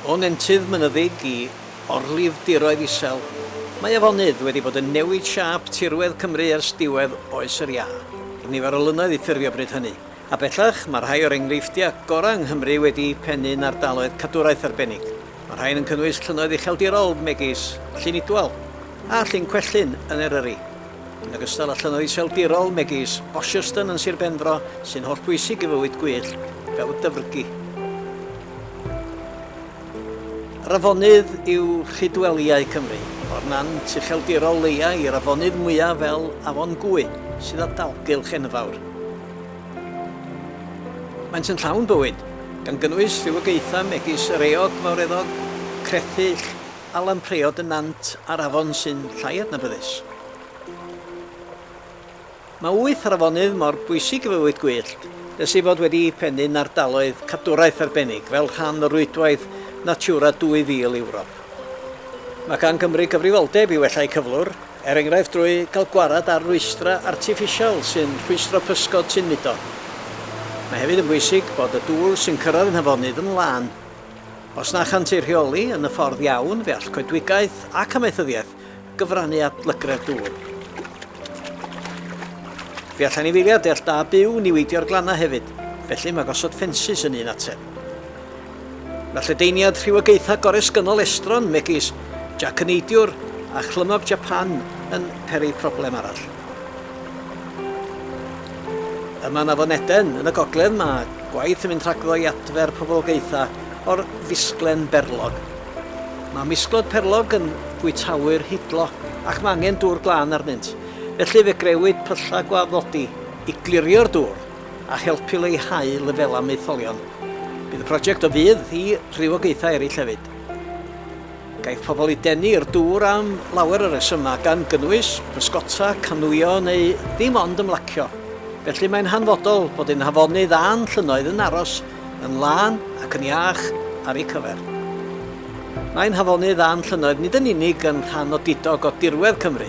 O nentydd mynyddig i orlifdiroedd isel, mae afonydd wedi bod yn newid siâp tirwedd Cymru ers diwedd Oes yr Iâ. Roedd nifer o lynnoedd i ffurfio bryd hynny, a bellach mae rhai o'r enghreifftiau gorau yng Nghymru wedi'u pennu'n ardaloedd cadwraeth arbennig. Mae'r rhain yn cynnwys llynnoedd ucheldirol megis Llyn Idwal a Llyn Cwellyn yn Eryri, yn ogystal â llynnoedd iseldirol megis Bosherston yn Sir Benfro sy'n hollbwysig i fywyd gwyllt fel y dyfrgi. Yr afonydd yw rhydwelïau Cymru, o'r nant ucheldirol leia i'r afonydd mwyaf fel Afon Gwy sydd â dalgylch enfawr. Maent yn llawn bywyd, gan gynnwys rhywogaethau megis yr eog fawreddog, crethyll a lampreod y nant a'r afon sy'n llai adnabyddus. Mae wyth o'r afonydd mor bwysig i fywyd gwyllt nes eu bod wedi pennu'n ardaloedd cadwraeth arbennig fel rhan o Rwydwaith Natura 2000 Ewrop. Mae gan Gymru gyfrifoldeb i wella'u cyflwr er enghraifft drwy gael gwared ar rwystrau artiffisial sy'n rhwystro pysgod sy'n mudo. Mae hefyd yn bwysig bod y dŵr sy'n cyrraedd yn Nhafonydd yn lân. Os na chant ei rheoli yn y ffordd iawn, fe all coedwigaeth ac amaethyddiaeth gyfrannu at lygredd dŵr. Fe all anifeiliaid deall da byw niweidio'r glannau hefyd, felly mae gosod ffensys yn un ateb. Mae lledaeniad rhywogaethau goresgynnol estron megis Jac y Neidiwr a Chlymog Japan yn peri problem arall. Yma yn Afon Eden, yn y gogledd, mae gwaith yn mynd rhagddo i adfer poblogaethau o'r fisglen berlog. Mae misglod perlog yn fwytawyr hidlo ac mae angen dŵr glân arnynt, felly fe grewyd pyllau gwaddodi i glirio'r dŵr. a helpu leihau lefelau maetholion. Bydd y prosiect o fudd i rywogaethau eraill hefyd. Gaiff pobl eu denu i'r dŵr am lawer o resymau, gan gynnwys bysgota, canŵio neu ddim ond ymlacio. Felly mae'n hanfodol bod ein hafonydd a'n llynnoedd yn aros yn lân ac yn iach ar eu cyfer. Mae'n hafonydd a'n llynnoedd nid yn unig yn rhan odidog o dirwedd Cymru,